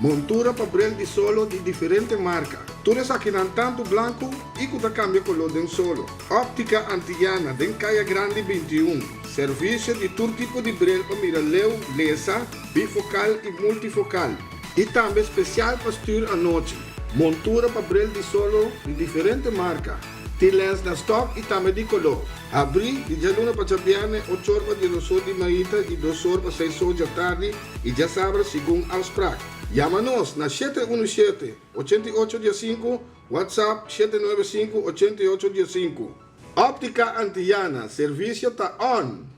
Montura pa brel di solo di diferente marka. Tur esakinan tantu blanku i ku ta kambia koló den solo. Óptika Antiyana den Kaya Grandi binti i un. Servisio di tur tipo di brel pa mira leu, lesa, bifokal i multifokal. I tambe spesial pa stuur anochi. Montura pa brel di solo di diferente marka. Tin lens na stòk i tambe di koló. Habrí di djaluna pa djabièrnè ocho or pa di dos or di maita i dos or pa seis or djatardi i djasabra segun afsprak. Yama nos na shete unu shete, ochenta i ocho dia sinku, WhatsApp, shete nuebe sinku, ochenta i ocho dia sinku. Óptica Antillana, servisio ta on!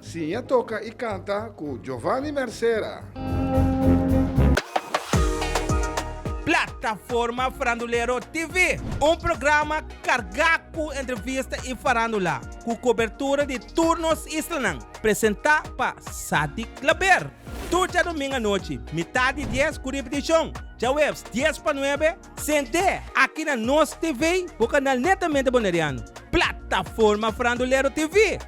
Siña toka i kanta ku Jovani Mercera. Plataforma Farandulero TV, un programa kargá ku entrevista i farándula, ku kobertura di tur nos islanan, presentá pa Sadik Klaber. Tur djadoming anochi, mitat di dies ku ripetishon djahuebs dies pa nuebe, sent'é aki na nos TV, bo kanal netamente Boneriano. Plataforma Farandulero TV.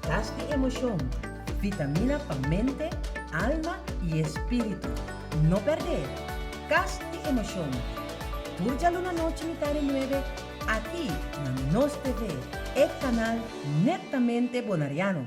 Klas di emoshon, vitamina pa mente, alma i e spiritu. No perdé Kas di Emoshon tur djaluna nochi mitar e nuebe aki na nos TV, e kanal nettamente Bonariano.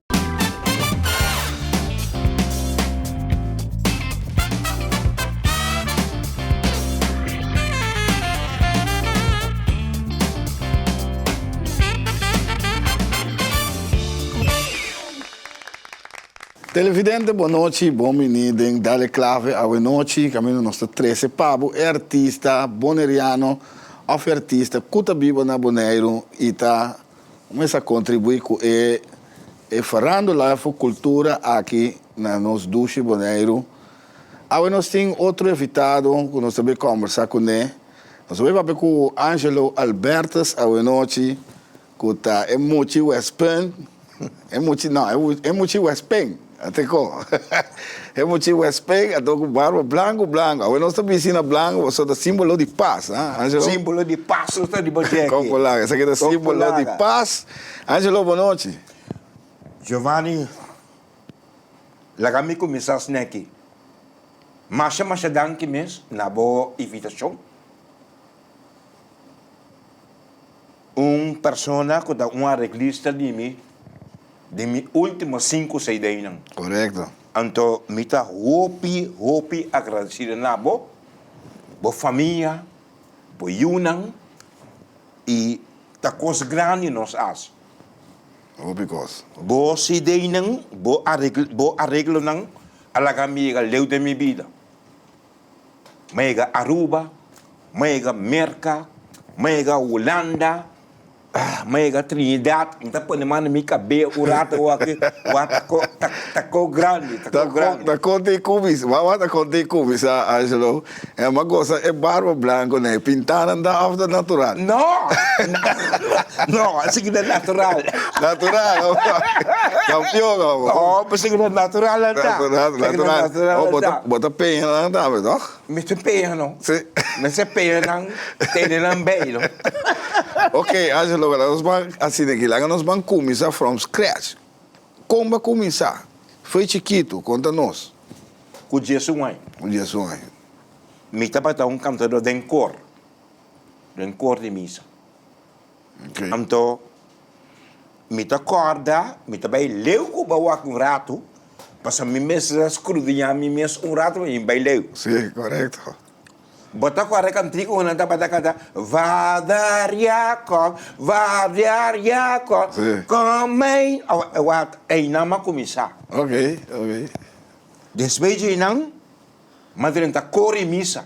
Televidente bon nochi y bon bini den Dale Clave awe nochi. Camino nos ta trece pa bo e artista Boneriano of e artista cu ta biba na Boneiru y ta. Mester a contribui cu e e verandula fu cultura aki na nos dushi Boneiru. Awe nos tin otro evitado cu nos ta bay conversa cu ne. Nos a bay papia cu Angelo Albertus awenochi cu ta e muchi West Punt, e muchi no, e muchi West Pen. Ateco e muchi huesped a do cu barba blanco blanco. Awe nos ta bisti na blanco pasobra ta simbolo di paz, ha Angelo? Simbolo di paz nos ta riba dje aki. Con polaga, esaki ta simbolo di paz. Angelo, bo nochi. Giovanni, laga mi cuminsa sneki. Masha masha danki mes na bo invitacion. Un persona ku ta un areglista di mi den mi último sinku CDnan. Korekto. Anto mi ta hopi hopi agradesido na bo, bo famia, bo yunan i ta kos grandi nos hasi. Hopi kos. Bo CDnan, bo areglonan a laga mi yega leu den mi bida. Mega Aruba, mega Merca, mega Hulanda, mega Trinidad, mi ta pone man na mi cabea un rato oa aki, oa ta co, ta, ta co grandi, ta co grandi. Ta conta e cubis, wawa ta conta e cubis, a Angelo, e ma gosa e barba blanco na e pintanan ta of ta natural? No, no, a sigui ta natural. Natural, ok, campeon abo. No, a sigui ta natural a ta, a sigui ta natural a ta. Bo ta peña nan tambe toch? Mi tin peña no. Si. Mester peña nan tene nan bay no. Ok Angelo wera nos ban asi den aki laga nos ban cuminsa from scratch con ba cuminsa fey chiquito conta nos. Cu dies un aña. Cu dies un aña. Mi tabata un cantador den cor den cor di misa. Anto, mi ta kòrda mi ta bai leu ku ba wak un ratu, pasobra mi mester skrudiñá mi mes un ratu pa mi bai leu. Sí, korekto. Bo ta kòrda e kantiku ku nan tabata kanta, Vader Jakob, vader Jakob, kòm mei. Einan a kuminsá. Ok, ok. Despues di einan, Madren ta kore misa.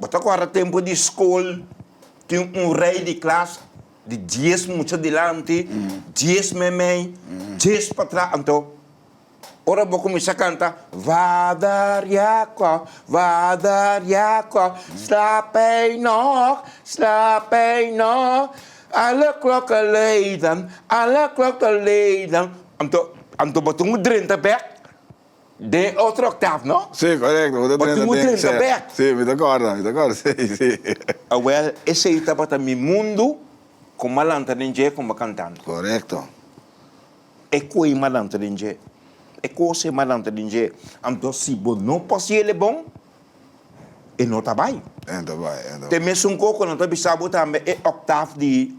Bo ta guarda tempu di skol, tin un rei di klas di dies mucha dilanti, dies meimei, dies patras. Anto, ora bo kuminsá kanta, Vader Jakob, Vader Jakob, slap ei nòg, slap ei nòg, alle klokken luiden, alle klokken luiden. Anto, anto bo ta un drenta bèk. Den otro octaaf, no? Sí, correcto, bo ta Bo tin trenta un den, trenta sèt. bèk. Sí, mi ta corda, mi ta corda, sí, sí. Awel, esei tabata mi mundu con m'a lanta den dje con m'a cantando. Correcto. E coe m'a lanta den dje, e cose m'a lanta den dje. Anto si bo no por ciele bon, e no ta bai. E no ta bai, e no ta Te bai. mesun coco nan ta bisa bo tambe e octaaf di.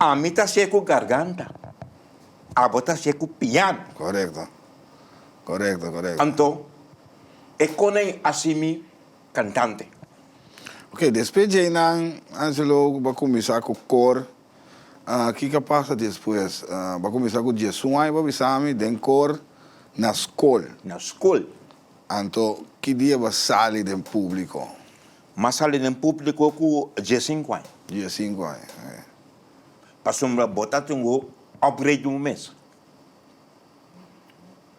Ami ta hasié ku garganta, abo ta hasié ku piano. Korekto, korekto, korekto. Anto, e kona i hasi mi kantante. Oke, despues dje einan, Angelo ba kuminsá ku kor. Kiko a pasa despues? Ba kuminsá ku djesun aña, bo a bisa mi, den kor na skol. Na skol. Anto, ki dia bo a sali den públiko? M'a sali den públiko ku diesinku aña. Diesinku aña, e. Pasobra bo ta tin un òpgreit di un mes.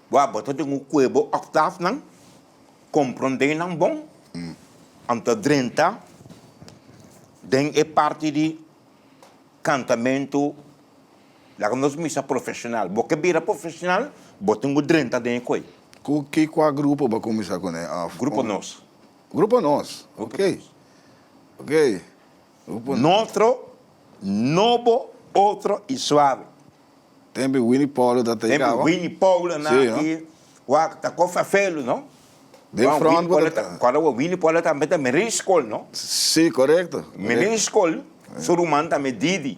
Bo a bo ta tin ku kue bo òktafnan, komprondé nan bon, an ta drenta den e parti di kantamentu, laga nos misa profeshonal. Bo ke bira profeshonal, bo tin ku drenta den e kue. Ku ki kua grupo bo a kuminsá kuné òf? Grupo nos. Grupo nos, ok, ok, grupo nos. Notro, nobo, otro y suave. Tempi Winnie Paulo ta ta ikawa. Tempi Winnie Paulo na aki. Sí, no. Wak ta cosa felu, no. Den front bo ta. Kora bo Winnie Paulo tambe ta Meriscol, no. Sí, correcto. Meriscol, su ruman tambe Didi.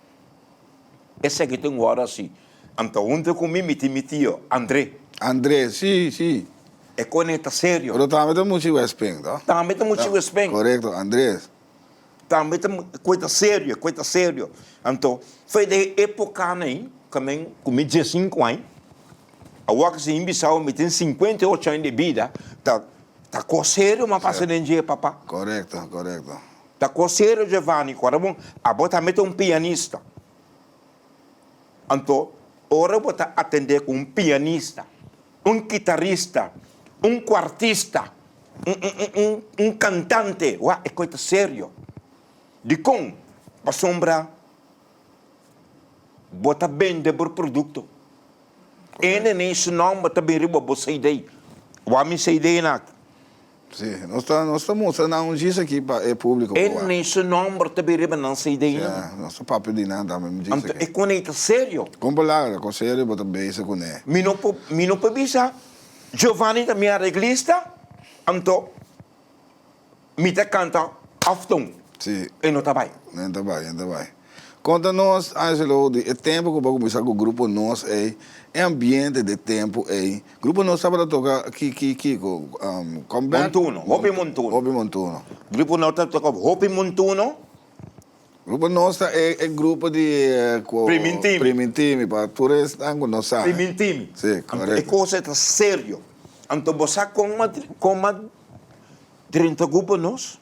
Eseki ta un wòrda si. An ta hunta ku mi, mi tin mi tio, André. André, Sí, sí. E kone ta serio. Pero tambe ta muchi wèsping, to? Tambe ta muchi wèsping. Korekto, Andrés. Tambe ta koe ta serio, koe ta serio. Anto, fai den e épokana ei, ku mi ku mi diesinku aña, awoa ku Señor Bisau mi tin sinkuenta i ocho aña di bida, ta ta kos serio m'a pasa den dje, papá. Korekto, korekto. Ta kosero Giovanni ku ora bo a bo tambe ta un pianista. Anto ora bo ta atendé ku un pianista, un kitarista, un kuartista, un un un un un kantante wak e kos ta serio. Dikon? Pasobra bo ta bende bo produkto. E nenei su nòmber ta bin riba bo CD. Wak mi CDnan aki. Sí, nos ta nos ta mustra nan un djis aki pa e publico por wak. E ni su nomber ta bin riba nan CD nan. Sea, nos ta papia di nan tambe un djis Anto aki. e con ei ta serio. Con palabra, con serio bo ta beza con e. Mi no por mi no por bisa Giovanni ta mi arreglista, anto mi ta canta often. Sí. E no ta bay. No ta bay, no ta bay. Konta nos, Angelo, di e tempu ku bo a kuminsá ku grupo Nos ei, e ambiente di e tempu ei. Grupo Nos tabata toka ki, ki, kiko? Comeback? Montuno, hopi montuno. Hopi montuno. Grupo Nos ta toka hopi montuno. Grupo Nos ta e, e grupo di ku. Primintimi. Primintimi, pa tur esnan ku no sa. Primintimi. Si, korekto. Anto e kosa ei ta serio. Anto bo sa kon, kon mas drenta grupo Nos?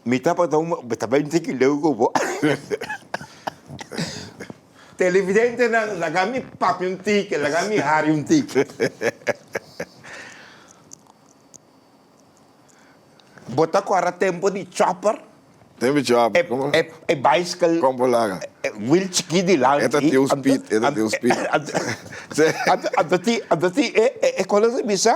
Mi tabata un mambú, ta bènditu ki leu ku bo. Televidentenan, laga mi papia un tiki, laga mi hari un tiki. Bo ta akorda tempu di chòper? Tempu di chòper, komo no? E bicycle. Kon bo laga? E wheel chikit di lanchi. E ta tin un speed, e ta tin un speed. Anto tin, anto tin e kòl nan ta bisa?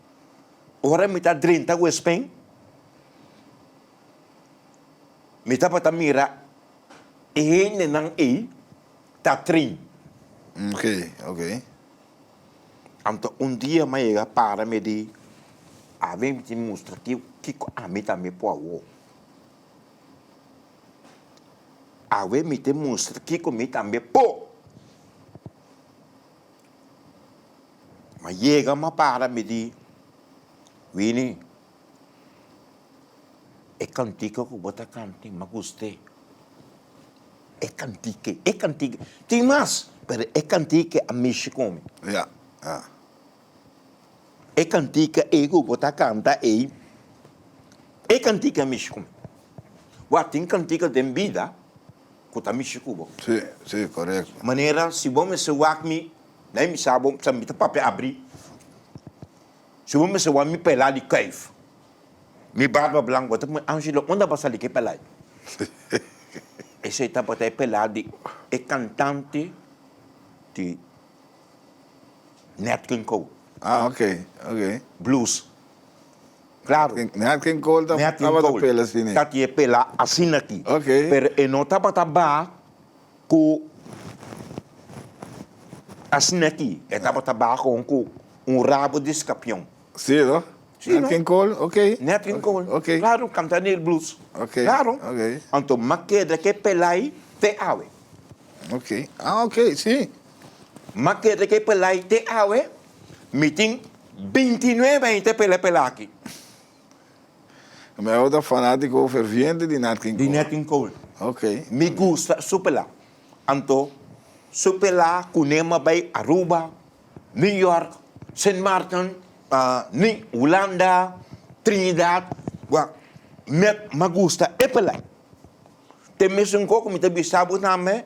Ora mi ta drenta ku e spen, mi tabata mira e hendenan ei ta trin. Ok, ok. Anto un dia mi a yega para mi di, A ven mi tin mustra kiw kiko ami tambe por awor. A ven mi tin mustra kiko mi tambe por. Ma yega ma para mi di wini e kantika ku bo ta kanta ma gusta e, e kantika, e kantika, tin mas pero e kantika a mishi ku mi, e kantika ei ku bo ta kanta ei, e kantika a mishi ku mi, wa tin kantika den bida. ku ta mishi ku bo. Sí, sí, corect. Manera si bo mester wak mi, dai mi sa bo sa mi ta papia abri. Si bo mester wak mi pela di kuif, mi barba blank, bo ta pone, Angelo, unda bo a sali ku e pela ei? Esei tabata e pela di e cantante di Nat King Cole. Ah, ok, ok. Blues. Claro. Nat King Cole tabata pela asina. Ta kie pela asina aki. Okay. Pero e no tabata ba cu asina aki. E tabata ba gewoon cu un rabo di scapion. Si no? Si no. Nat King Cole? Okay. Nat King Cole. Okay. Claro, canta neer blues. Okay. Claro. Okay. Anto ma keda ke pela ay te awe. Okay. Ah, okay. Si. Maquete ke pelai te awe mi tin binti nuebe aña te pela pela aki. Meo ta fanatico ferviente di Nat King Cole. Di Nat King Cole. Ok. Mi gusta su pela. Anto su pela cu nema bay Aruba, New York, Sint Maarten, Hulanda, Trinidad. Mi a gusta e pelai. Te mesun coco mi ta bisa bo tambe.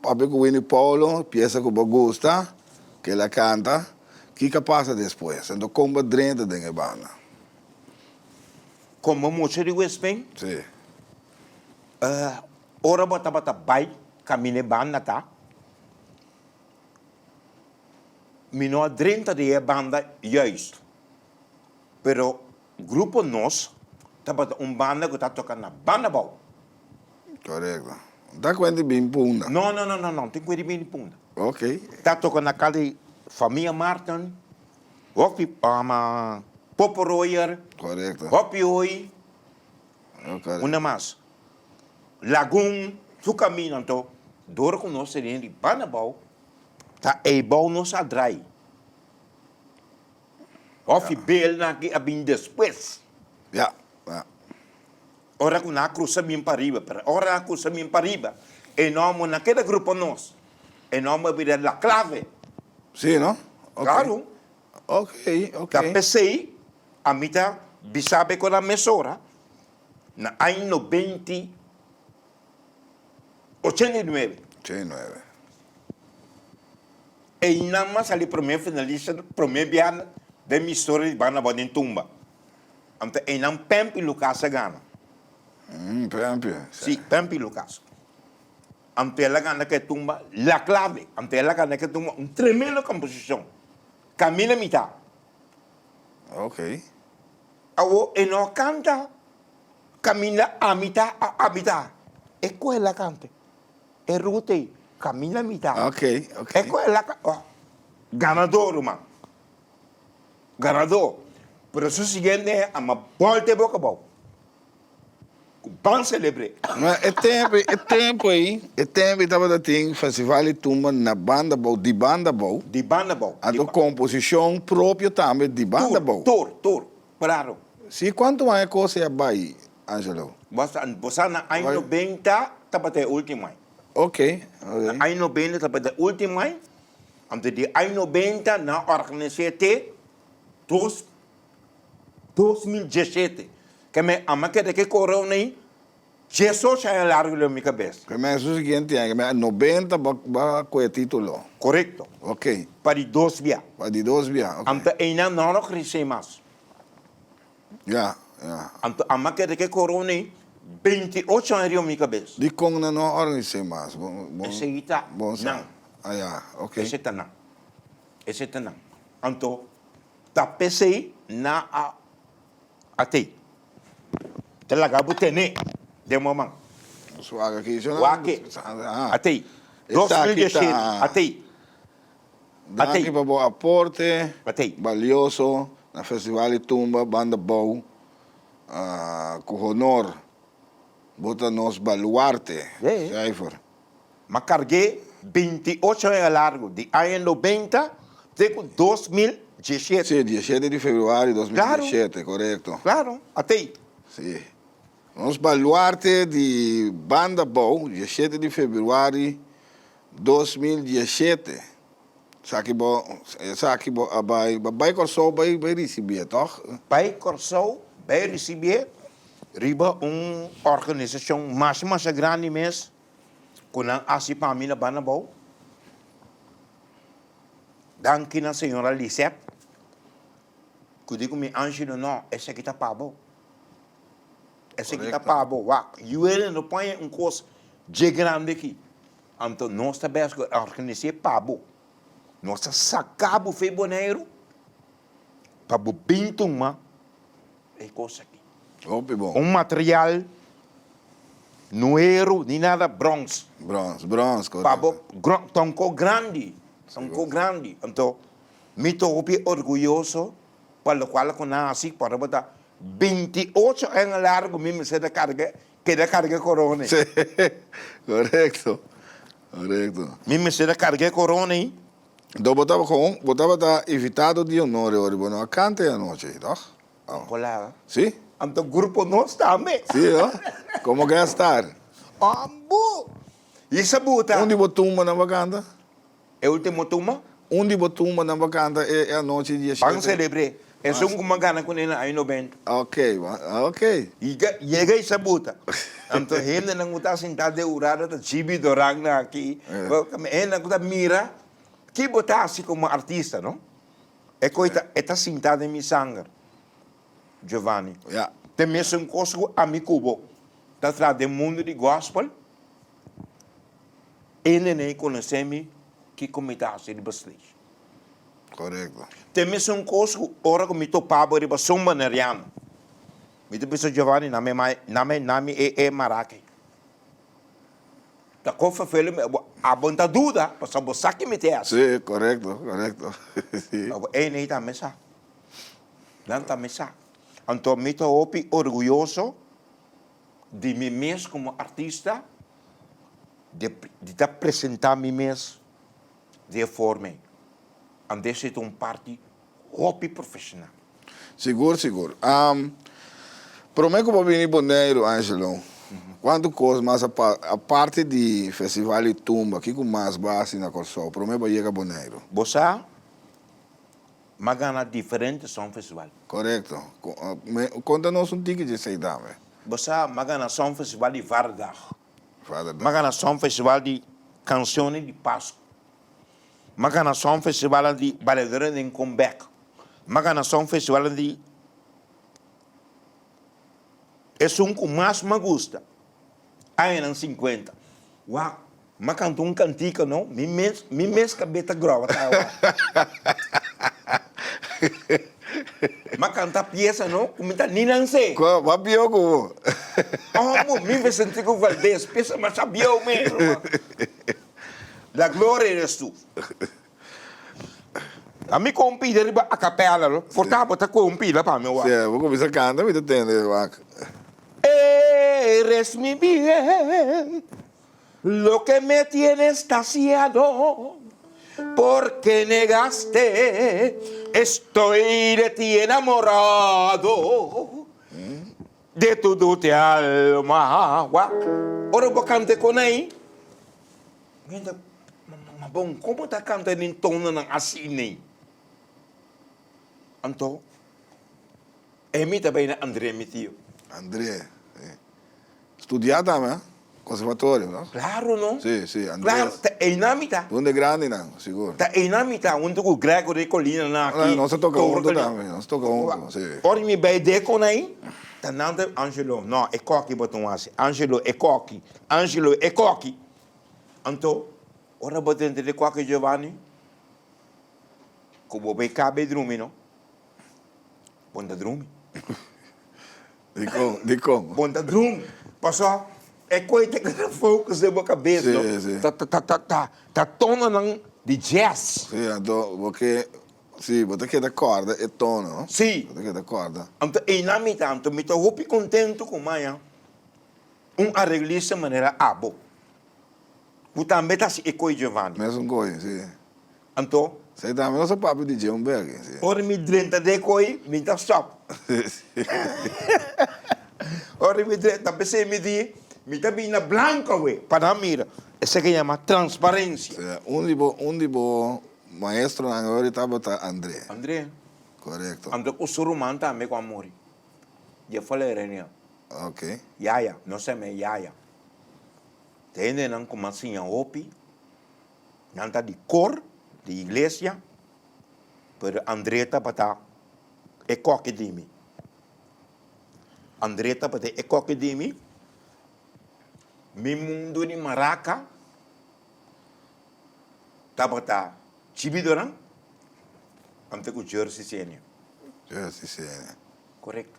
Papia cu Winnie Paulo, piesa cu bo gusta, kila a canta, kico a pasa despues? Enton con bo a drenta den e banda? Como mucha di Westplein? Sí. Uh, ora bo tabata bay camina e banda aca, mi no a drenta den e banda juist, pero. Grupo Nos tabata un banda cu ta toca na banda bou. Corecto. Ta cu e di bin punda? No, no, no, no, no tin cu e di bin punda. Ok. Ta toca na cal di Famia Martin, Hopi, um, Popo Royer. Corecto. Hopi Hoy. Oh, corecto. Unda mas? Lagun, su camino anto, door cu nos tene di banda bou, ta ey bou nos a draai. Of e beelnan aki a bin despues. Ya, ya. Ora ku nan a krusa bin pariba, pero ora nan a krusa bin pariba, e nomo nan keda grupo nos. E nomo a bira La Clave. Sí no? Ok. Claro. Ok, ok. Ta p'esei ami ta bisa be ku nan mesora na aña nobenti, ochenta i nuebe. Ochenta i nuebe. Eynan mas sali promé finalista promé biaha den historia di banda bou den tumba. Ante eynan Pemp y Lucas a gana. Umm Pemp e. Si, Pemp y Lucas. Ante el a gana ke tumba La Clave, ante el a gana ke tumba un tremendo composicion Camina Mitá. Okay. Awo e no a canta Caminda a mitá, a mitá. E cohe el a cante. E ruta ei camina mita. Ok ok. E cu e laca o ganador ruman. Ganador. Pero su siguiente hen a ma bolta e boca bao. Cu ban celebre. Ma e tempo e tempo ei e tempo ei tabata tin festival di tumba na banda bao di banda bao. Di banda bao. A do composicion propio tambe di banda bao. Tur tur tur. Braro. Si cuanto aña cosa ya bai. Angelo. Bosa na aña nobenta tabata e ultimo ai. Ok, ok. Na aña nobenta tabata e ultimo ai, anto di aña nobenta nan a organis'é te dos dos mil diesete. Ke me a m'a keda ke koreon ei diesocho aña largo riba mi kabes. Ke me su siguiente aña, ke me nobenta b'a kohe e titulo. Korekto. Ok. Pa di dos bia. Pa di dos bia, ok. Anto einan nan a organis'é mas. Ya, ya. Anto a make de ke corona ei beinti ocho aña riba mi cabes. Di con nan no a organisé mas? Bo, bo, Esei ta bon sa. nan. Ah, ya. Ok. Esei ta nan. Esei ta nan. Anto ta pesei nan a a tei. Ta laga bo tené den moman. Su wak aki. Wak aki. Sa, ah. A tei. Dos mil dies siete, a tei. Danki pa bo aporte balioso na Festival di Tumba Banda Bou ku honor. Bo ta nos baluarte, Schrijver. M'a karg'é binti ocho aña largu, di aña nobenta te ku dos mil diesiete. Sí, diesiete di februario dos mil diesiete, korekto. Klaro, atei. Sí. Nos baluarte di Banda Bou, diesiete di februari Dos mil diesete esaki bo esaki bo a bai bai Kòrsou bai bai risibié tòg? Bai Kòrsou bai risibié riba un organisashon masha masha grandi mes ku nan hasi pa mi na Banabou. Danki na señora Lisette ku di ku mi Angelo no esaki ta pa bo. Eseki ta pa bo wak. Yuele no paña un kos dje grandi aki. Anto nos ta bes ku e organis'é pa bo. Nos ta saka bo fei Boneiru pa bo bin tuma e kos aki. Hopi bon. Un material no hero ni nada, brons. Brons, brons, korekto. Pa bo gron, ta un kos grandi, ta un kos grandi. Anto mi ta hopi orguyoso pa lokual a konasi pasobra bo ta Binti ocho aña largo mi mester ta carga, keda carga e corona ei. Sí, correcto, correcto. Mi mester ta carga e corona ei. Enton bo taba con, bo tabata invitado di honor e ora bo no a canta e anochi ei, toch? Oh. Hola. Sí. Anto grupo nos tambe. Sí, oh. Como guest star. Ambu! Ysa buta. Un di bo tumbanan bo a canta? E ultimo tumba. Un di bo tumbanan pa canta e anochi di diashete. Ban celebre e son cu m'a gana cune na año noventa. Ok, ok. Yega, yega y sabuta. Anto hendenan cu ta sinta den Urada ta Jibi Doran nan aki. Hendenan cu ta mira ki bo ta haci como artista, no? E coi ta, e ta sinta den mi sanger, Giovanni. Ya. Te mesun cos cu ami cu bo ta traha den mundo di gospel. E nenei conoce mi kico mi ta haci riba stage. Correcto. Te mesun cos cu ora cu mi topaba riba Zumba Neriano. Mi ta bisa Giovanni na mi mai, na mi, na mi e e mara aki. Ta con vervelen mi, bo a bon ta duda pasobra bo sa ki mi te haci. Si, correcto, correcto, si. Bo ey ney tambe sa. Nan tambe sa. Anto mi ta hopi orguyoso di mi mes como artista. de di ta presenta mi mes di e forma ei, anto esei ta un parti hopi profesional. Sigur sigur. Prome ku bo bini Boneiru Angelo, kuantu kos mas a pasa, aparte di festival di tumba, kiko mas bo a hasi na Kòrsou prome bo a yega Boneiru? Bo sa. M'a gana diferente Songfestival. Korekto. Konta nos un tiki di esei tambe. Bo sa m'a gana Songfestival di Vaderdag. Vaderdag. M'a gana Songfestival di Canciones di Pascu. M'a gana Songfestival di Bailadores den Comeback. M'a gana Songfestival di esun ku mas m'a gusta, añanan sinkuenta. Wak M'a canta un cantica no, mi mes, mi mes cabeta groa ta awa. M'a canta pieza no, cu mi ta ni nan se. Cu a mas bieu cu bo. Omo, mi Vicentico Valdez, pieza mas a bieu mero man. La gloria eres tu. A mi con pide riba a capella no, for ta bo ta coge un pila pa mi wak. Si a bo cuminsa canta mi ta tende wak. Eres mi bien. Loke me tiene estasiado porque negaste estoy de ti enamorado de tu dute alma wak ora bo kanta konai men ta ma bon como ta kanta den tono nan asi nei anto emi ta bay na Andre mi tio. Andre. Studia ta me conservatorio no? Claro no. Si si Andres. Claro ta eynan mi ta. Hunde grandi nan sigur. Ta eynan mi ta hunto cu Gregory Colina nan aki. Nos a toca hunto tambe nos a toca hunto si. Ora mi bay de con ayi ta nan ta Angelo no e coki bo tin wasi Angelo e coki Angelo e coki anto ora bo dentro de cuarto Giovanni cu bo bay caba e drumi no bo na drumi. Dikon? Bon ta drun, paso e koit ta gana focus den bo kabes no, ta tono nan di jazz. Si, anto bo ke, si, bo ta keda korda e tono no, bo ta keda korda. Anto einan mi ta, anto mi ta hopi contento ku maya. Un arreglista manera abo. Bo tambe ta hasi e koe Giovanni. Mesun koe, si. Anto? Sei tambe nos a papia di dje un bege, si. Ora mi drenta de e koe, mi ta stop. Ora mi drenta tambe sei midi, mi ta bini na blanco awe pa nan mira. Esaki a yama transparencia. Sea, un di bo, un di bo maestronan ayori tabata Andre. Andre. Corecto. Anto ku su ruman tambe ku a muri. Dje falerinha. Okay. Yaya, nos ta eme yaya. Te hendenan ku m'a siña hopi, nan ta di kor di iglesia, pero André tabata e koki di mi. André tabata e koki di mi, mi mundu di maraca tabata chibidonan, anto ku Jersey Senior. Jersey Senior. Korekto.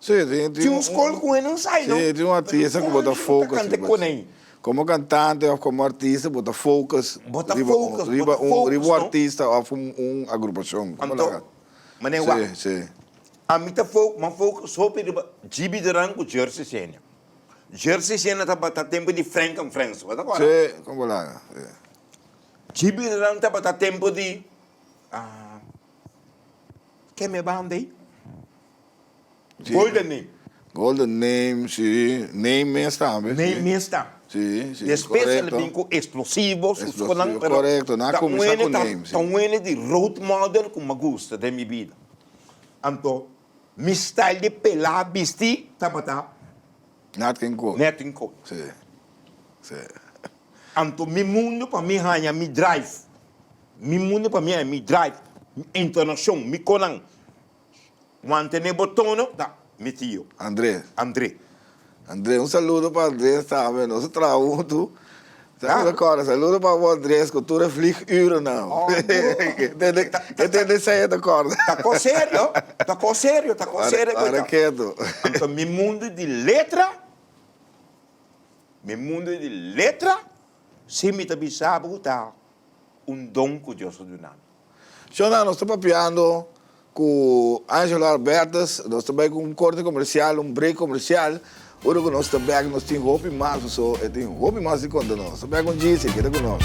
Tin un skol ku hende no sai, no? Pero komo anshi bo ta kanta e kona ei? Komo kantante òf komo artista bo ta focus riba un artista òf un agrupashon? Anto, manera wak, ami ta focus hopi riba GB Duran ku Jersey Shena. Jersey Shena tabata tempu di Frenk and Frens, bo ta akorda? Sí, kon bo laga. GB Duran tabata tempu di. Ken mi e banda ey? Golden name. Golden name si, name mes tambe si. Name mes ta. Si, si, korekto. Despues el a bin ku esplosivo, su skonan, pero. Korekto, nan a kuminsá ku name si. Ta un ene di road model ku m'ai gusta den mi bida. Anto mi style di pelá, bistí, tabata. Nat King Cole. Nat King Cole. Si, si. Anto mi mundo pa mi haña mi drive. Mi mundo pa mi haña mi drive, mi entonacion, mi conan. Mantene bo tono ta mi tio. Andre. Andre. Andre, un saludo pa Andre tambe, nos a traha huntu. Claro. Saludo Cora, saludo pa bo Andre, cu tur e vliegurennan. Oh, Andre. E ta den sey e ta corda. Ta cos serio, ta cos serio, ta cos serio. Para, para keto. Anto mi mundo di letra Mi mundo e di letra, si mi ta bisa bo ku ta un don ku Dios a duna mi. Shona, nos ta papiando ku Angelo Albertus. Nos ta bai ku un korte komersial, un brek komersial. Ora ku nos ta bek nos tin hopi mas paso e tin hopi mas di konta nos. Ta bek un djisi, keda ku nos.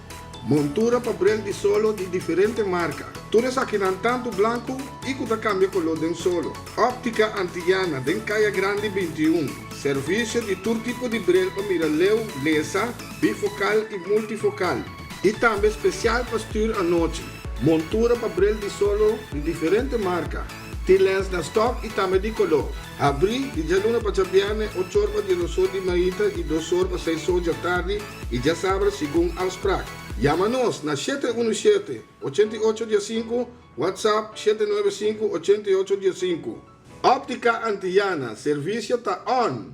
Montura pa brel di solo di diferente marka. Tur esakinan tantu blanku i ku ta kambia koló den solo. Óptika Antiyana den Kaya Grandi binti i un. Servisio di tur tipo di brel pa mira leu, lesa, bifokal i multifokal. I tambe spesial pa stuur anochi. Montura pa brel di solo di diferente marka. Tin lens na stòk i tambe di koló. Habrí di djaluna pa djabièrnè ocho or pa dies osor di maita i dos or pa seis or djatardi i djasabra segun afsprak. Yama nos na shete unu shete, ochenta i ocho dia sinku, WhatsApp, shete nuebe sinku, ochenta i ocho dia sinku. Óptica Antillana, servisio ta on!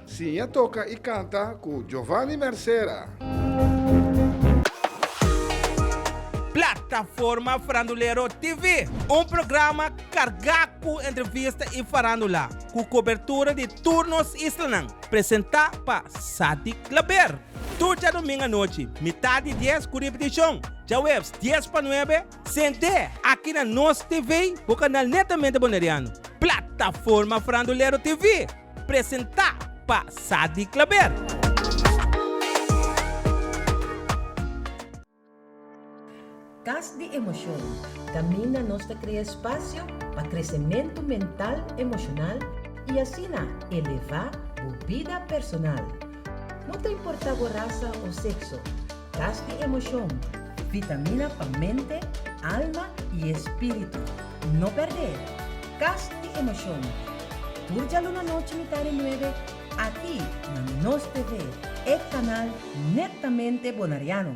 Siña toca y canta cu Giovanny Mercera. Plataforma Farandulero TV. Un programa carga cu entrevista y farandula, cu cobertura di tur nos islanan. Presenta pa Sadik Klaber. Tur djadomingo anochi, mitad di dies cu ripeticion, djahuebs dies pa nuebe. Sent'é aki na nos TV bo kanal netamente Boneriano, Plataforma Frandulero TV, presentá pa Sadi Klaber. Kas di Emosyon, Kaminda nos ta krea spasio pa kresementu mental emoshonal i asina elevá bo bida personal. No ta importá bo rasa o sekso. Kas di Emocion, Vitamina pa mente, alma i e spiritu. No perdé Kas di Emocion, tur djaluna nochi mitar di nuebe, aki na Nos TV, e kanal nettamente Bonariano.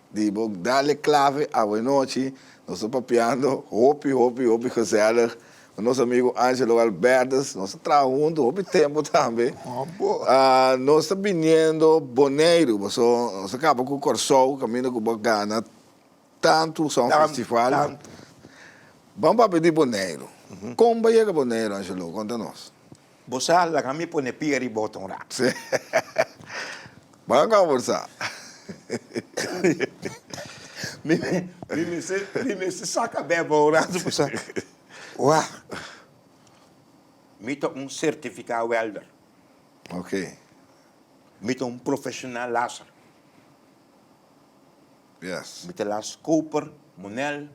Di bo dal e clave awe nochi, nos ta papiando hopi, hopi, hopi gezellig cu nos amigo Angelo Galberdes. Nos a traha hunto hopi tempo tambe. Nos ta biniendo Boneiru, paso nos a caba cu Corsou, caminda cu bo a gana tanto sa un festival. Bam papia di Boneiru. Con bo a yega Boneiru, Angelo? Conta nos. Bo sa laga mi pone pia riba bo tong rato. Sí. Bo a comborsa. Mi mester mi mester saca beba un rato pa sa. Wah. Mi ta un certifica welder. Okay. Mi ta un profesional laser. Yes. Mi ta las koper, monel,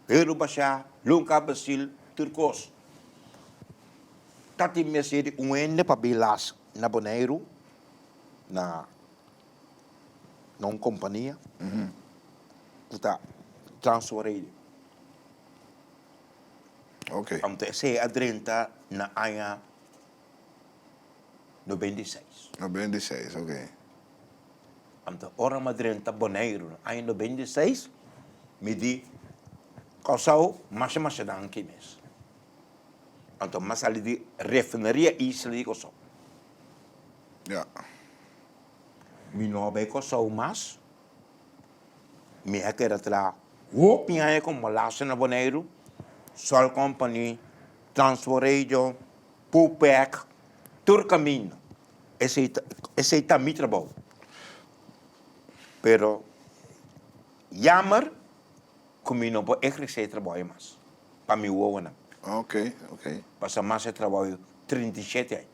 Herubasha, Lunka Basil, tur cos. Ta tin mester di un hende pa bin las na Boneiru na na un kompania ku ta transfereer. Oke. Pabia esei a drenta na aña noventa i seis. Noventa i seis, oke. Anto ora mi a drenta Boneiru na aña noventa i seis mi di Kòrsou, masha masha danki mes. Anto mas sali di refineria isla di Kòrsou. Ya. Mi no a bai Kòrsou mas. Mi a keda traha hopi aña ku Molasses na Boneiru, Sol Company, Transworld Radio, Pupec, tur kaminda. Esei ta, esei ta mi trabou. Pero yammer. Cu mi no por ehrece e trabajo mas pa mi wowonan. Ok, ok. Pasa mas e trabajo trinta i shete aña.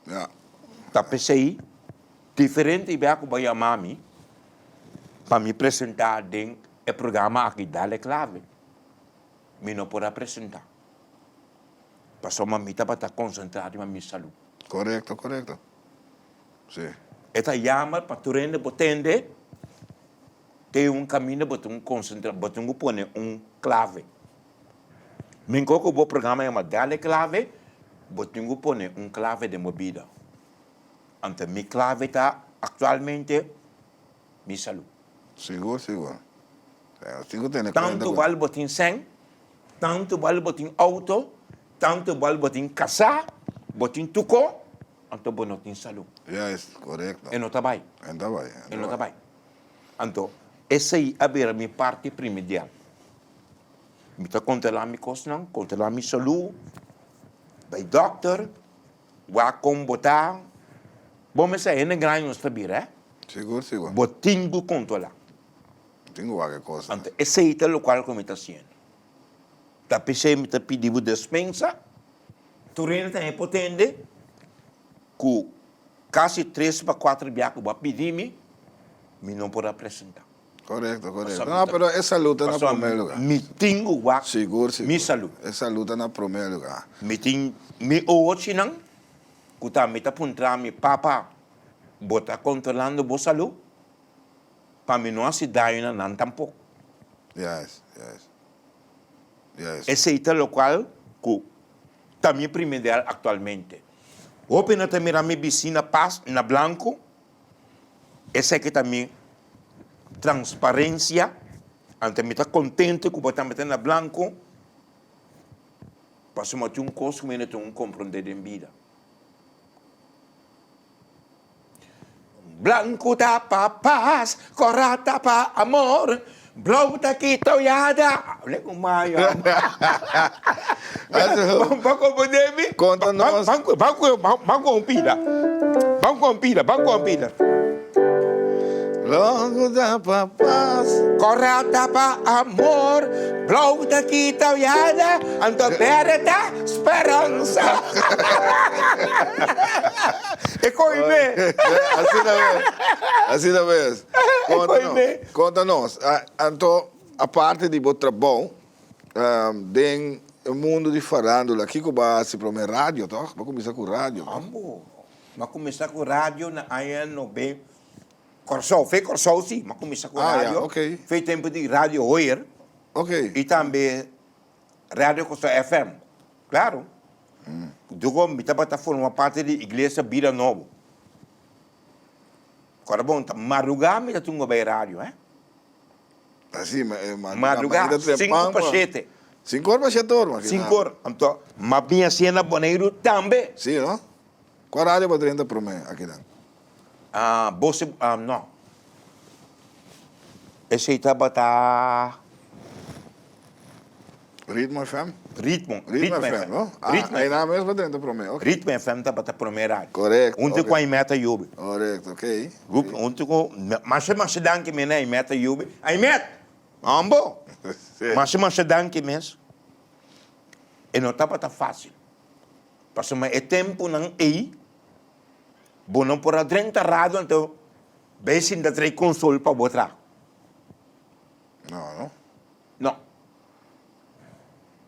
Ya. Ta p'esey, diferente i bea cu bo yama mi pa mi presenta den e programa aki Dale Clave, mi no por a presenta. Pasobra mi tabata concentra riba mi salu. Corecto, corecto. Si. E ta yamber pa tur hende bo tende. Te un caminda bo tin cu concentra, bo tin cu pone un clave. Mingkor cu bo programa yama Dale Clave, bo tin cu pone un clave den bo bida. Ante mi clave ta actualmente mi salud. Sigur, sigur. Tin cu tene cuenta cu. Tanto bal bo tin seng, tanto bal bo tin auto, tanto bal bo tin casa, bo tin tuco, anto bo no tin salud. Juist, correcto. E no ta bay. E no ta bay. E no ta bay. Anto, esei a bira mi parti primidial. Mi ta kontrolá mi kosnan, kontrolá mi salú, bai dòkter, wak kon bo ta. Bo mester a hende grandi nos ta bira, eh? Sigur, sigur. Bo tin ku kontrolá. Bo tin ku wak e kosnan. Anto, esei ta lokual ku mi ta hasiendo. Ta p'esei mi ta pidi bo despensa. Tur hende ta hipotende. ku kasi tres pa kuater bia ku bo a pidi mi, mi no por a presenta. Korekto, korekto. No, pero e salú ta na promé lugá. Mi tin ku wak mi salú. E salú ta na promé lugá. Mi tin mi ochinan ku tambe ta puntra mi, Papa, bo ta kontrolando bo salú pa mi no hasi daño na nan tampok? Yes, yes, yes. Esei ta lokual ku Ta mi prime del actualmente. Hopi no ta mira mi bicina pas na blanco, eseki ta mi transparencia, anto mi ta contente cu bo tambe ta na blanco, pasobra tin un cos cu mi no tin un compronde den bida. Blanku ta pa pas, kòrá ta pa amor, blou ta ki toyada. Ble ku mayo. Ban ku bo demi. Konta nos. Ban ku ban ku ban ku un pila. Ban ku un pila, ban ku un pila. Blanku ta pa pas. Kòrá ta pa amor, blou ta ki toyada, anto bere ta speransa. E ko'i me. Asina mes. Asina mes. Konta nos. E ko'i me. Konta nos. Anto aparte di bo trabou den e mundu di farandula kiko bo a hasi prome? Radio tog? Bo a kuminsá ku radio no? Ambo. Mi a kuminsá ku radio na aña nobe. Kòrsou. Fe Kòrsou si mi a kuminsá ku radio. Ah ya. Oke. Fe tempu di Radio Hoyer. Oke. I tambe. Radio Kustoo FM, Claro, Dugo mi tabata forma parti di Iglesia Bida Nobo. Kora bon ta madruga mi ta tunga bay radio, he. Así me eh, madruga, Madruga, mañana temprano, sinku pa man. shete. Cinco horas pa siete horas, man. Sinku ora. Anto, ma biña siña na Boneiru tambe. Sí, no? Kua radio bo drenta prome aki dan? Boso no. Esey tabata Ritmo FM? Ritmo Ritmo FM no? Ritmo FM. Ah, e nan mes pa drenta prome, ok. Ritmo FM tabata prome radio. Correcto, ok. Hunte cu Aimee ta yubi. Correcto, ok. Grupo hunte cu, masha masha danki mes na Aimee ta yubi. Aimeet! Awor bo? Sí. Masha masha danki mes. E no tabata facil. Pasobra e temponan ey. Bo no por a drenta rado anto bay sinta trae consol pa bo traha. No no no.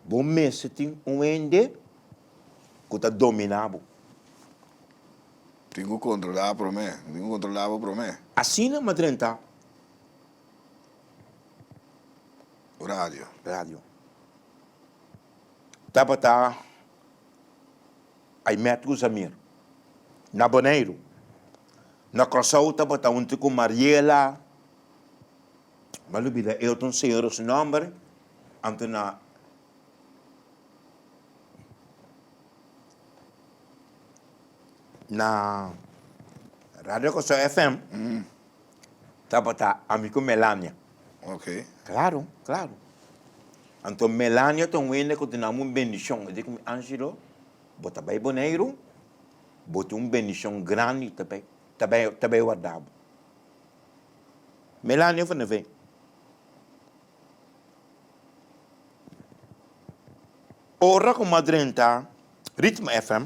Bo mester tin un hende cu ta domina bo. Tin cu controla prome, tin cu controla bo prome. Asina m'a drenta radio. Tabata. Ai Matthew Zamir. Na Boneiru. Na Kòrsou tabata hunti ku Mariela, mi a lubida e otro un señora su nòmber, anto na na Radio Kòrsou FM. Tabata, Ami ku Melania. Oke. Klaru, klaru. Anto Melania ta un hende ku ta dunam un bendishon. E di ku mi, Angelo, bo ta bai Boneiru, bo tin un bendishon grandi ta bai ta bai ta bai warda bo. Melania fo na ven. Ora ku mi a drenta Ritme FM.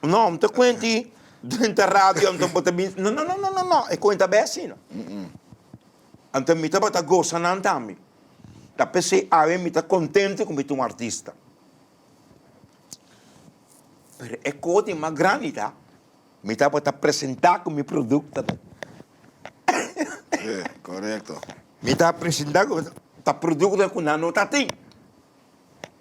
No, am ta kuenti den ta radio am ta bota bin, no no no no no no e kuenta be asina. Ante mi tabata gosa nan tambe, ta p'esei awe mi ta kontento ku mi ta un artista. Pero e koti mas grandi ta mi tabata presenta ku mi produkto nan. Mi ta presenta ku ta produkto ku nan no ta tin.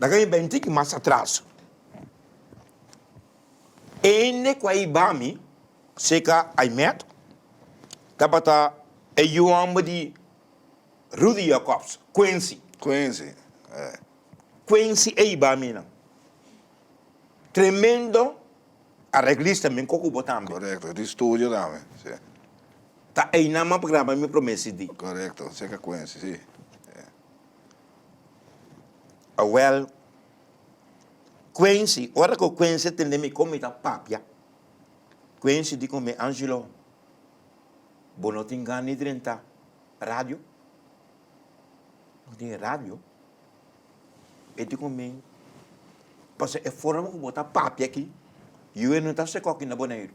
Nan ka a bèn tiki mas atras. E hende ku a hiba mi, seka Aimet, tabata e yu hòmber di Rudy Jacobs, Quincy. Quincy, e. Quincy a hiba mi nan. Tremendo areglista, mi koko bo tambe. Korekto, e tin studio tambe, si. Ta einan m'a graba mi promé CD. Korekto, seka Quincy, si. Awel, Quency, ora cu Quency tende mi con mi ta papia, Quency di con mi, Angelo, bo no tin gan di drenta radio? No tin radio? E di con mi, pasobra e forma cu bo ta papia aki, yo e no ta seco aki na Boneiru.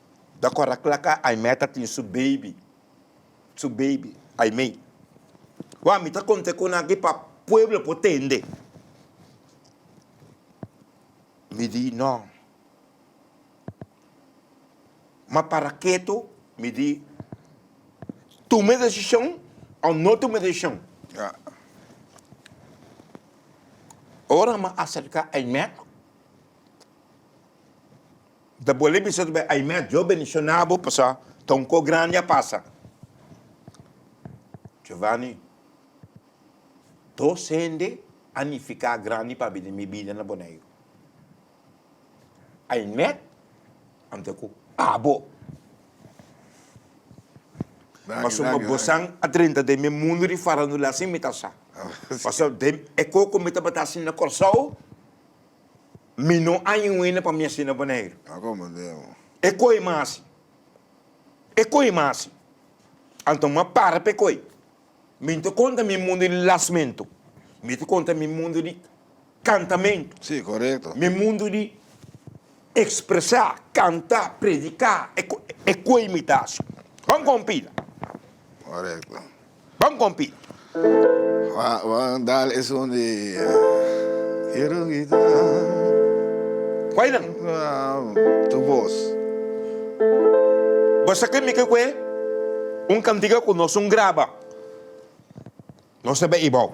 Ta kòrda kla ka Aimee ta tin su beibi, su beibi, Aimee. Wak mi ta kont'é ku nan akí pa pueblo por tende. Mi di nò. Ma para ketu, mi di, tuma e desishon o no tuma e desishon. Ora mi a aserká Aimee. Bo ta bolbe bisa tambe, Ai mes, Jeova bendiciona bo pasobra ta un cos grandi a pasa. Giovanni, Dos hende a nifica grandi pabi den mi bida na Boneiru. Ai mes anto cu abo. Pasobra mi bosan a drenta den mi mundo di farandula, asin mi ta sa. Pasobra den e cos cu mi tabata haci na Corsou. Mi no a inwina pa mi a sina Boneiru. E koi masi. E koi masi. Anto m'a para p'e koi. Mi ta konta mi mundu di lasmentu. Mi ta konta mi mundu di kantamentu. Mi mundu di ekspresá, kantá, prediká. E koi mi ta hasi. Kon kompida. Bon kompi. Wan dal esun di Quiero quitar Koe nan? tu voz. Bo sa ke mi ke koe? Un kantika ku nos un graba. Nos ta bay i bou.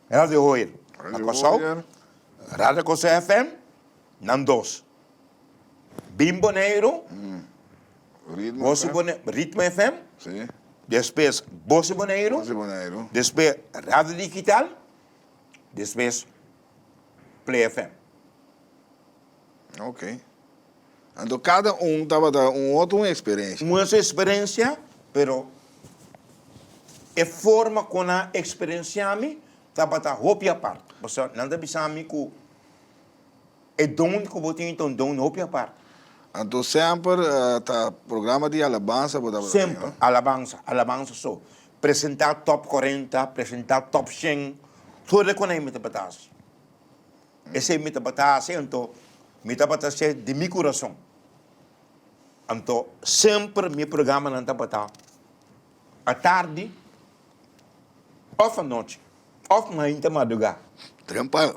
Radio Hoyer na Kòrsou, Radio Kòrsou FM, nan dos. Bin Boneiru, Ritmo FM, despues Bosi Boneiru, despues Radio Digital, despues Play FM. Ok. Anto kada un tabata un otro un experencia. Muha su experencia, pero e forma con a experencia mi tabata hopi apart. Pasobra nan ta bisa mi cu e don cu bo tin ta un don hopi apart. Anto semper ta programa di alabansa bo tabata tin? Semper, alabansa, alabansa so. Presenta top cuarenta, presenta top cien, todo lo cu nan e mi tabata haci. Esei mi tabata hasi, anto mi tabata hasié di mi kurason. Anto semper mi programanan tabata atardi òf anochi, òf mainta madugá. Trempa,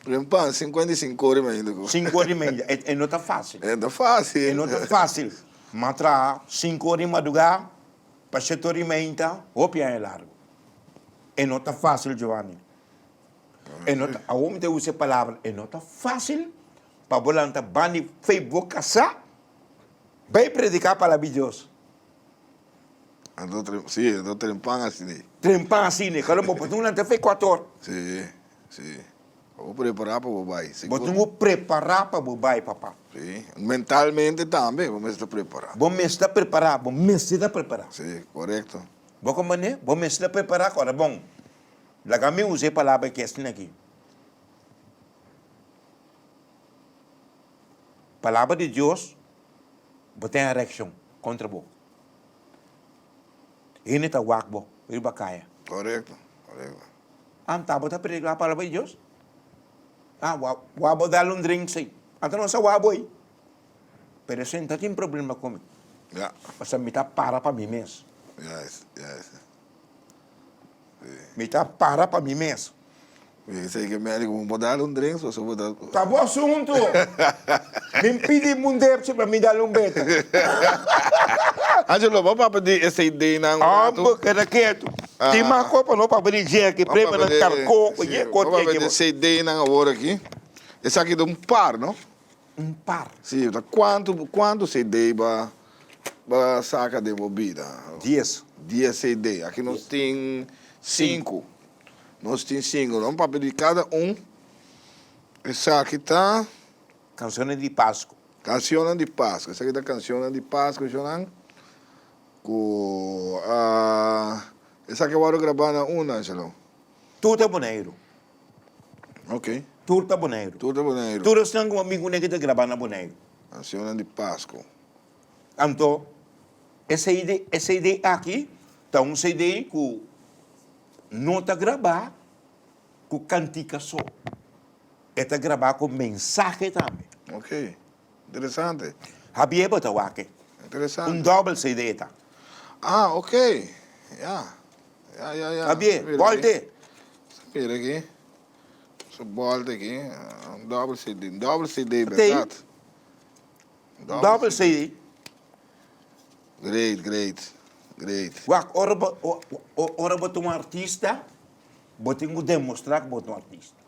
trempa, sinku ora di sinku ora i mainta ku. Sinku ora i mainta, e, e no ta fásil. E no ta fásil. E no ta fásil. M'a traha sinku ora di madugá pa shete ora i mainta, hopi aña largu. E no ta fásil, Giovanni. E no ta, awor mi ta usa e palabra, e no ta facil pa bo lanta ban di fe bo casa bay predica palabra di Dios. Anto tren, si, anto tren pan asine. Tren pan asine, kalo bo por tin un lanta fe cuato or. Si, si. Bo prepara pa bo bay, segur. Bo tin ku prepara pa bo bay, papa. Si, mentalmente tambe bo mester prepara. Bo mester prepara, bo mester ta prepara. Si, korekto. Bo ko mane, bo mester ta prepara ku ora bon. Laga mi usa e palabra ke esnan aki. Palabra di Dios bo ten erekshon kontra bo. Hende ta wak bo riba kaya. Korekto, korekto. Anta bo ta predika palabra di Dios? A wou wou bo dal un drink sei. Anta no sa wou bo ei. Pero esei no ta tin problema ku mi. Ya. Pasobra mi ta para pa mi mes. Yes, yes. Mi ta para pa mi mes. Esei ke medico bo dal un drink so su bo ta. Ta bo asuntu. Bin pidi mundepchi pa mi dal un bete. Angelo bo papia di e CD nan un ratu. Ambo keda ketu. Tin mas cos pa no papia di Jackie prema nan carco cualkier cos. Si bo papia di CD nan awor aki. Esaki ta un par no. Un par. Si ta cuanto cuanto CD bo a. Bo a saca den bo bida. Dies. Dies e de. Aki nos tin cinco. Nos tin cinco. Lo papia di cada un. Esaki ta. Cancionnan di Pascu. Cancionnan di Pascu. Esaki ta cancionnan di Pascu eshonan. Cu a. Esaki a worde graba na un, Angelo? Tur ta Boneiru. Okay. Tur ta Boneiru. Tur ta Boneiru. Tur esnan ku ami kuné ku ta grabá na Boneiru. Kansionnan di Pasko. Anto e CD e CD aki ta un CD ku no ta grabá ku kantika so. E ta grabá ku mensahe tambe. Okay. Interesante. Habiee bo ta wak e. Interesante. Un double CD ta. Ah ok ya ya ya ya. Habiee bolta e. Mira aki. Su bolta aki. Un double CD. Un double CD berdad. Tape. Un double CD. Great great great. Wak ora bo ora bo ta un artista bo tin ku demostra ku bo ta un artista.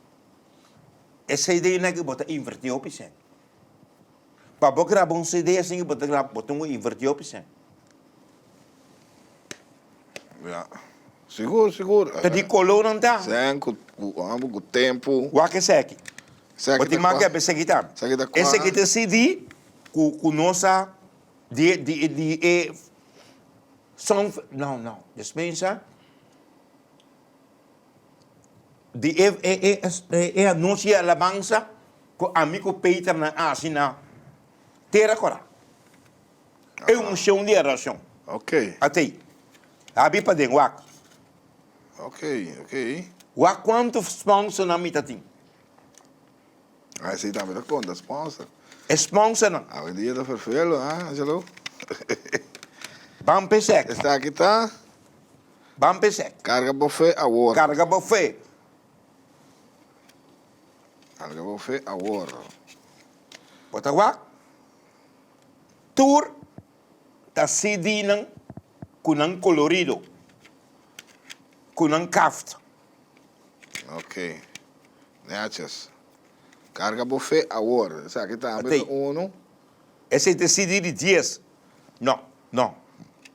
E CDnan ke bo ta inverti hopi sent. Pa bo graba un CD asin ke bo ta graba, bo tin ku inverti hopi sent. Ya, sigur, sigur. Ta di kolonan ta. Sent ku, ku amo, ku tempu. Wak esaki. Esaki ta kwa. Bo tin manga kep esaki ta. Esaki ta kwa. Esaki ta e CD ku, ku nos a di, di, di e song, no, no, despensa. di e e anochi e alabansa ku ami ku Peter nan a hasi na tera kora. E unshon di orashon. Atei. Abi paden wak. Wak kuantu sponsornan mi ta tin. E sponsornan. Ban pesèk. Ban p'esei. Carga bo fe awor. Carga bo fe. Carga bo fe awor. Bo ta wak tur ta CDnan cu nan colorido, cu nan kaft. Ok. Netjes. Carga bo fe awor. Esaki tambe ta Atei. unu. Esei ta CD di dies. No, no.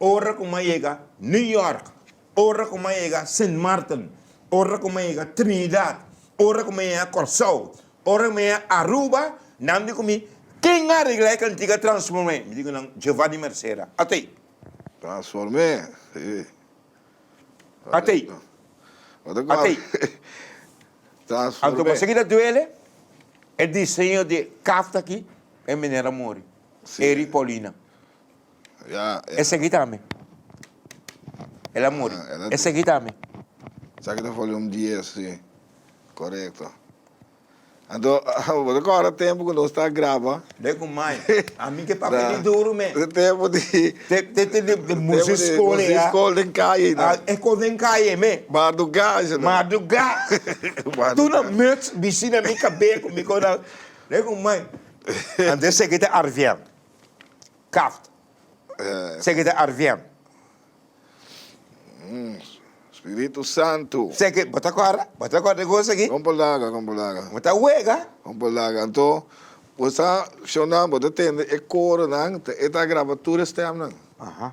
Ora ku m'a yega New York, ora ku m'a yega Sint Maarten, ora ku m'a yega Trinidad, ora ku m'a yega Kòrsou, ora ku m'a yega Aruba, nan di ku mi, Ken a regla e kantika Transformé? Mi di ku nan, Jeova di Mercera. Atei. Transformé, si. Atei. Atei. Anto bo sigui ta duele, e diseño di e kafta aki e manera muri. Eri Paulina. E segui ta mi. El a muri. E segui ta mi. Esaki ta folium dies, si. Korekto. Anto, bo ta kòrda tempu ku nos ta graba? Be ku mai. A mi ke papia di duru me. Te tempu di. Te tempu di di musik skol ei. Musik skol den kaye na. E skol den kaye me. Madrugá eshe na. Madrugá. Madrugá. Tur nan muts bisi na mi kabé ku mi kòrda. Be ku mai. Anto e segui ta arviel. Kaft. Seki ta arvien. Spiritu Santu. Seki, bo ta kòrda? Bo ta kòrda e gosa aki? Kon bo laga, kon bo laga. Bo ta wega. Kon bo laga. Anto, bo sa shona, bo ta tende e koronan, ta e ta graba tur e stèmnan. Aha.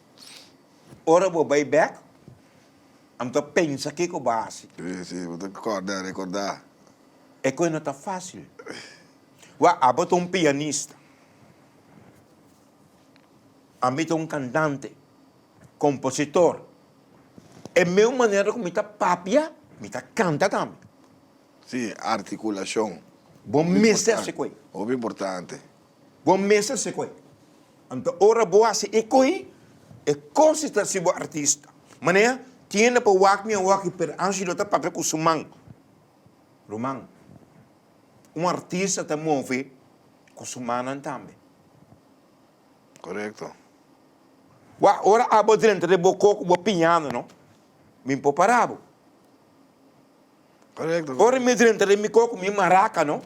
Ora bo bay bek, amo ta pensa kico bo haci. Si, si, bo ta corda, recorda. E coe no ta facil. Wak, abo ta un pianista. Ami ta un cantante, compositor. E mesmo manera cu mi ta papia, mi ta canta tambe. Si, articulacion. Bo mester haci coe. Hopi importante. Bo mester se koe. Anto ora bo hasi e koe, e kosis ta hasi bo artista. Manea, kien lo pa wak mi a waki pero Angelo ta papia ku su man. Ruman, un artista ta move ku su mannan tambe. Korekto. Wak, ora abo drenta de bo koko bo piñando no, mi por para bo. Korekto, korekto. Ora mi drenta de mi koko, mi maraka no.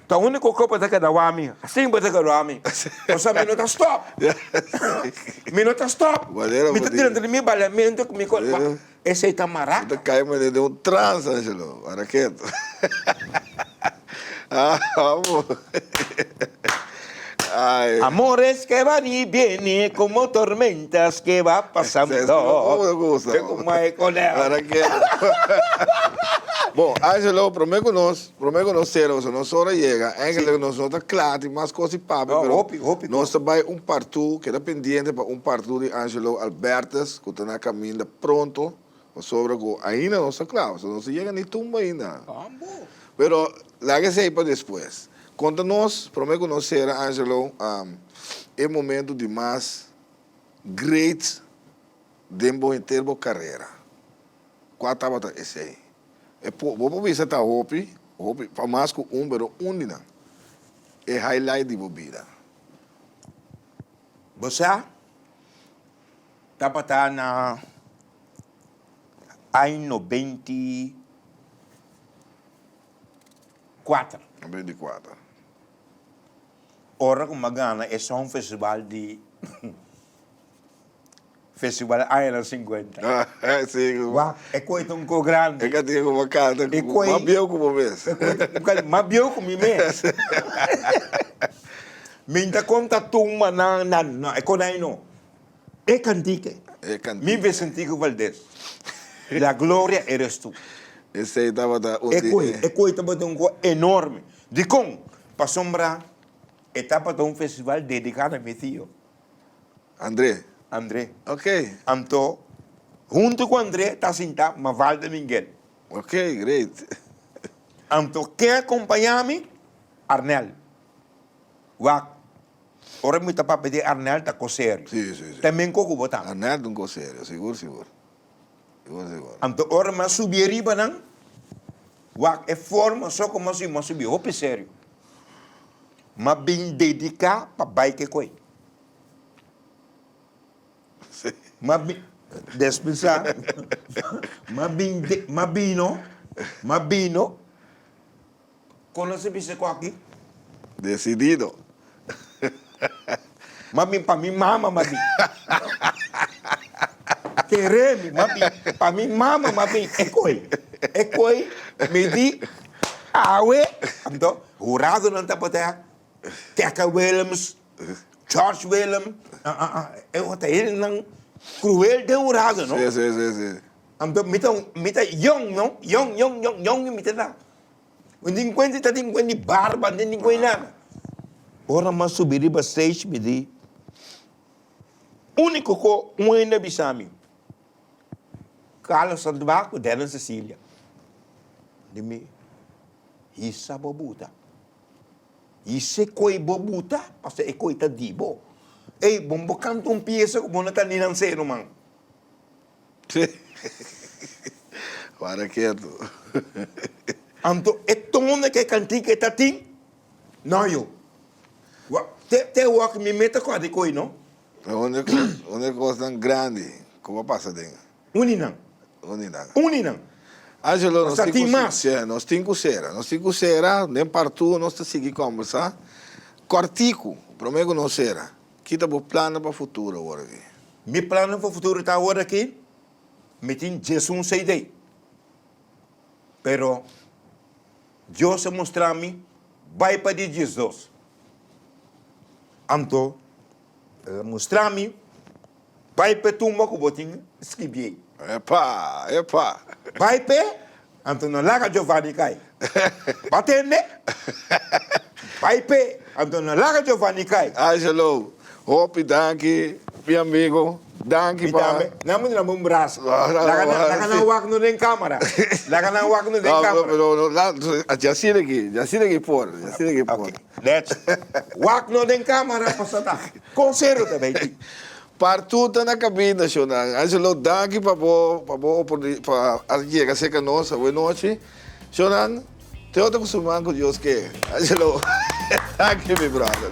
Ta unico co bo ta keda wami. Asin bo ta keda wami. Bo sa mi no ta stop. Mi no ta stop. Mi ta tira dentro di mi baleamento cu mi cor. Wak, esey ta maraca. Bo ta cay manera di un trans, Angelo. Para keto. Amo. Ay. Amores que van y vienen como tormentas que va pasando. Mira como e coleha. Para keto. Bo, Angelo, prome cu nos. Prome cu nos ceroso nos ora yega, engelek nos no ta cla tin mas cos di papia, pero nos ta bay un partu, keda pendiente pa un partu di Angelo Albertus cu ta na caminda pronto, pasobra cu ainda nos ta cla, so nos ta yega ni tumba ainda. Pero laga esey pa despues. Conta nos, prome cu nos cera Angelo, e momento di mas great den bo henter bo carrera, cua tabata esey? E por, bo por bisa ta hopi, hopi, pa mas cu un, pero un di nan. E highlight di bo bida. Bo sa, tabata na año beinti kuater. Na beinti kuater. Ora cu m'gana e Songfestival di. Festival Island Singuenta. Sí, cu. Wak, e koe ta un koe grandi. E ka tin kuma kal, ta E koe. mas bieu ku bo mes. E koe ta un kal mas bieu ku mi mes. Mi ta konta tumba nan, nan, nan, e konai no. E kantike. E kantike. Mi Vicentico Valdez. La gloria eres tu. Esei tabata un di e. E koe, e koe tabata un koe enorme. Dikon? Pasobra e tabata un festival dediká na mi tio. André. André. Ok. Anto, huntu ku André ta sintá Maval den Mingel. Ok, great. Anto, ken a kompañá mi? Arnel. Wak, ora mi ta papia di Arnel ta kos serio. Sí, sí, sí. Ta men koko bo ta? Arnel ta un kos serio, sigur, sigur. Anto ora mas subi ariba nan wak e forma so como si mas subi hopi serio, mas bin dedica pa bay kikoy, mas bin despisa, mas bin mas bino mas bino. Kon lo se bisa ku aki? Desidido. Mas bien pa mi mama mas bien. Kere mi mas bien pa mi mama mas bien. E koi, e koi mi di awe. Anto huradonan tapat'e Keke Willems, George Willem, e ota hendenan kruel den hurado no. Anto mi ta mi ta yòn no, yòn yòn yòn yòn mi ta da. Un dinkuenti ta dinkuenti di barba, no tin dinkuenti di nada. Ora mas subi riba stage mi di uniko ko un hende a bisa mi, Carlo Sandoval ku Daniel Cecilia, di mi, hisa bo buta, hisa e koi bo buta, pasobra e koi ta di bo, ey bon bo kanta un piesa ku bo no ta ni nan seru man. Para ketu. Anto e tone ke kantika e ta tin? No yo. Wa te te wak mi me ta kòde koi no. Pero un de kos un de kosnan grandi ku por pasa den. Uninan. Uninan. Uninan. Angelo nos tin ku se nos tin ku sera nos tin ku sera den partu nos ta sigui kòmbersa kòrtiku promé ku nos sera. Ki ta bo plannan pa futuro aworaki? Mi plannan pa futuro ta aworaki mi tin djesun cd. Pero Dios a mostra mi bai pa di djesdos. Anto el a mostra mi Bai p'e tumba ku bo tin skribí ei. Epa! Epa! Bai p'e, anto no laga Giovanni kai. Bo a tende? Bai p'e, anto no laga Giovanni kai. Angelo, hopi danki, mi amigu. Danki pa. Mi tambe. Nan mester damb'e un bras. Laga nan wak no den kamera. Laga nan wak no den kamera. No, no, no. Djasina aki, djasina aki por. Djasina aki por. Oke. Dèt. Wak no den kamera, kos ta ta? Kon serio ta bay tin? Par tur ta na kabina, Shonan. Angelo, danki pa bo pa bo oportuni pa al yega cerca nos awe nochi. Shonan, Teota cu su man cu Dios ke. Angelo, Danki mi brother.